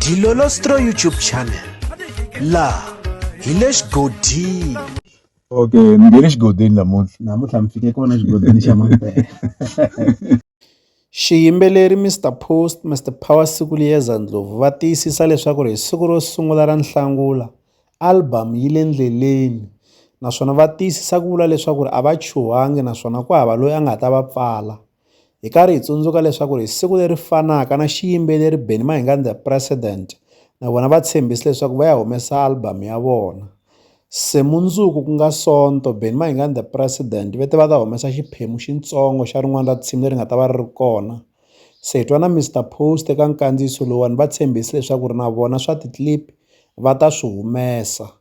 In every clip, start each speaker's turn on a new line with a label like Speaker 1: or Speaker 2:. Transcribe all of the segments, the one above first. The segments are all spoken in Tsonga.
Speaker 1: Dilolostro YouTube channel la hi le xigodini okay
Speaker 2: ni nge le xigodini namuntlha namuntlha mi fike kona xigodini
Speaker 3: xa mampela
Speaker 1: xiyimbeleri mr post mr power siku liyeza ndlovu va tiyisisa leswaku ri hi siku ro sungula ra nhlangula album yi le ndleleni naswona va tiyisisa ku vula leswaku ri a va chuhangi naswona ku hava loyi a nga ta va pfala hi karhi hi tsundzuka leswaku hi siku leri fanaka na xiyimbeleri Benny Mahingani the President na vona va tshembisi leswaku va ya humesa album ya vona se mundzuku ku nga sonto Benny Mahingani the President va te va ta humesa xiphemu xitsongo xa rin'wana ra tinsimu leri nga ta va ri ri kona se hi twa na Mr Post eka nkandziyiso lowuwani va tshembisi leswaku ri na vona swa ti-clip va ta swi humesa.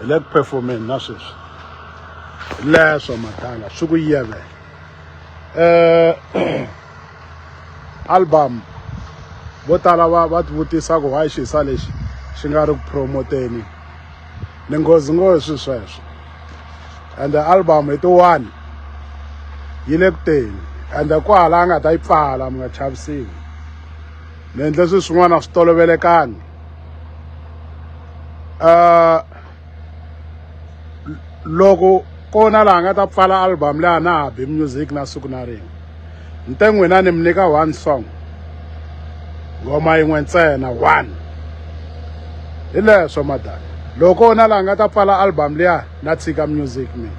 Speaker 4: hi le ku performeni na sweswi leswo matala swi ku yevela um eh, album vo tala va va tivutisa ku why xisa lexi xi nga ri ku promoteni ni nghozi ngo hi swi sweswo and album hi tiwani yi le ku teni and kwahala a nga ta yi pfala mi nga chavisiwi ni endle swi swin'wana a swi tolovelekanga uh, loko kona laha nga ta pfala album leyi a na ha bi music na siku na rin'we ni te n'wina ni mi nyika one song ngoma yin'we ntsena one hi leswo madala loko na laha nga ta pfala album liya na tshika music mina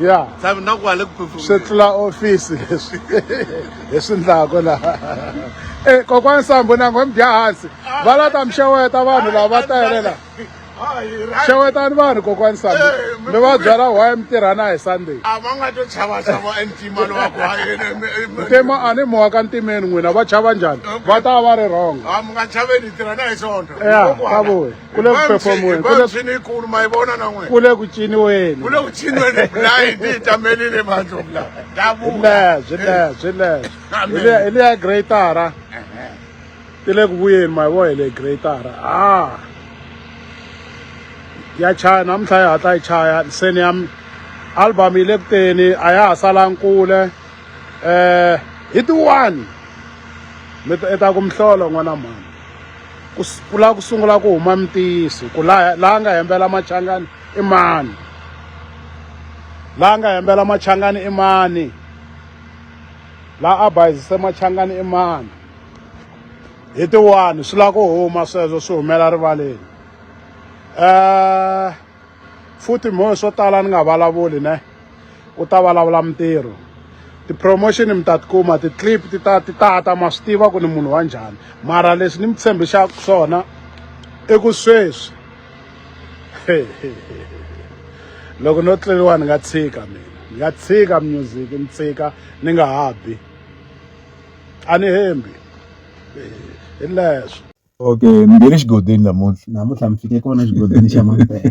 Speaker 5: ya tshami
Speaker 4: na ku hale
Speaker 5: ku swi tlula ofisi
Speaker 4: leswi hi swi ndlaka laha e eh, kokwani sambo na ngo mi dya hansi ah. va la ta mi xeweta vanhu lava va tele laha xewetani vanhu kokwani sami mi va byela why mi tirhana hi sunday a va nga to chava
Speaker 5: chava entima lowa ku ntima a ni mowa
Speaker 4: ka ntimeni n'wina va chava njhani va ta va ri wrong a mi nga chaveni hi
Speaker 5: tirhana hi sonto ya ka voyi
Speaker 4: ku le ku performiweni ku le swini ikulu ma
Speaker 5: yi vona na n'wina ku le ku ciniweni
Speaker 4: ku le ku ciniweni
Speaker 5: layi ti hi tamelile mandlovu la leswi leswi leswi
Speaker 4: hi le ya greatara ti le ku vuyeni ma yi vo hi le greatara a ya chaya namuntlha yi hatla yi chaya se ni ya album yi le ku teni a ya ha salangi kule um hi ti-one mi ta ku mihlolo n'wana mhani ku ku lava ku sungula ku huma mitiyiso ku laha laha nga hembela machangani i mani laha nga hembela machangani i mani laha a bayizise machangani i mani hi tiwani swi lava ku huma sweswo swi humela rivaleni um futhi mhohe swo tala ni nga vulavuli ne u ta vulavula mintirho ti-promotion mi ta tikuma ti-clip ti ta ti ta ta ma swi tiva ku ni munhu wa njhani mara leswi ni mi tshembixaka swona i ku sweswi loko no tleliwa ni nga tshika mina ni nga tshika music ni tshika ni nga ha bi a ni hembi hi leswo Okay, mi nge
Speaker 3: le xigodini namuntlha. Namuntlha mi fike kona
Speaker 2: xigodini
Speaker 3: xa Mampela.